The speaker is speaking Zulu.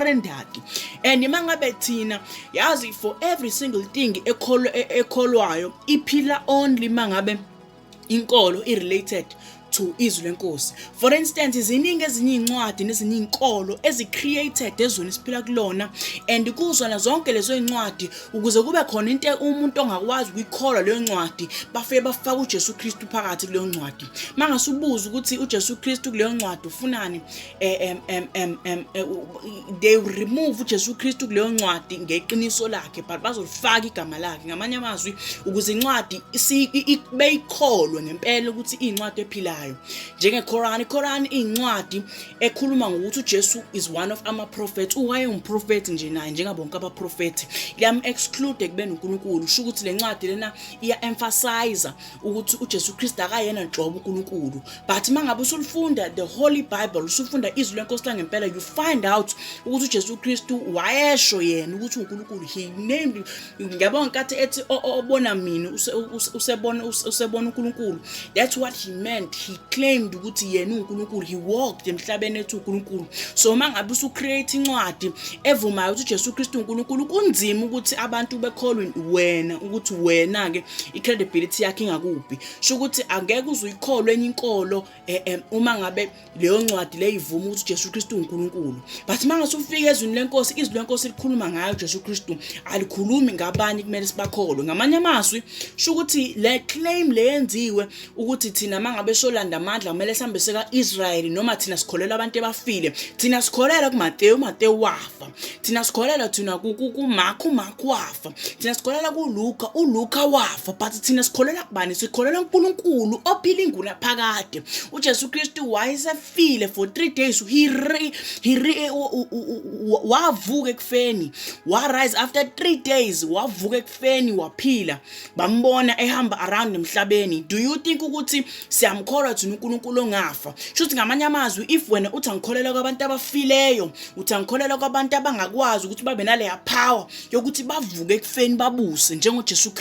standard and uma ngabe thina yazi for every single thing e, ekholwayo iphila only uma ngabe inkolo i-related to izwi lenkosi for instance iziningi ezinye iy'ncwadi nezinye iy'nkolo ezi-created ezweni esiphila kulona and kuzona zonke lezo y'ncwadi ukuze kube khona into umuntu ongakwazi ukuyikholwa leyo ncwadi bafike bafaka ujesu kristu phakathi kuleyo ncwadi uma ngase ubuze ukuthi ujesu kristu kuleyo ncwadi ufunani um um um um eh, they remove uJesu Kristu kuleyo ncwadi ngeqiniso lakhe but bazolifaka igama lakhe ngamanye amazwi ukuze incwadi beyikholwe ngempela ukuthi iyincwadi ephilayo njengeQuran iQuran iyincwadi ekhuluma ngokuthi uJesu is one of ama prophets uwaye umprofet nje naye njengabonke aba prophet liyam exclude ekubeni uNkulunkulu usho ukuthi lencwadi lena iya emphasize ukuthi uJesu Kristu akayena nhlobo uNkulunkulu but mangabe usulifunda the holy bible usufunda izwi lenkosi langempela you find out ukuthi uJesu Kristu wayesho yena ukuthi uNkulunkulu he named ngiyabona nkathi ethi obona mina usebona usebona uNkulunkulu that's what he meant he claimed ukuthi yena uNkulunkulu he walked emhlabeni ethi uNkulunkulu so mangabe usu create incwadi evumayo ukuthi uJesu Kristu uNkulunkulu kunzima ukuthi abantu bekholwe wena ukuthi wena ke i-credibility yakhe ingakuphi sho ukuthi angeke uze uyikholwe enye inkolo um uma ngabe leyo ncwadi le ivuma ukuthi ujesu kristu unkulunkulu but uma ngase ufike ezwini lenkosi izwi lenkosi likhuluma ngayo ujesu kristu alikhulumi ngabanye kumele sibakholwe ngamanye amazwi sho ukuthi le claim le yenziwe ukuthi thina mangabe solanda amandla kumele sihambe seka Israel noma thina sikholelwa abantu ebafile thina sikholelwa kuMateyu uMateyu wafa thina sikholelwa thina kuMarku uMarku wafa thina sikholelwa kuLuka uLuka wafa but thina sikholelwa kubani sikholelwa uNkulunkulu ophila inguna phakade uJesu Kristu wayesefile for 3 days he re, he re, wavuka ekufeni wa rise after 3 days wavuka feni waphila bambona ehamba around emhlabeni do you think ukuthi siyamkholwa thina uNkulunkulu ongafa shuthi ngamanye amazwi if wena uthi angikholelwa kwabantu abafileyo uthi angikholelwa kwabantu abangakwazi ukuthi babe naleya power yokuthi bavuke ekufeni babuse njengoJesu Kristu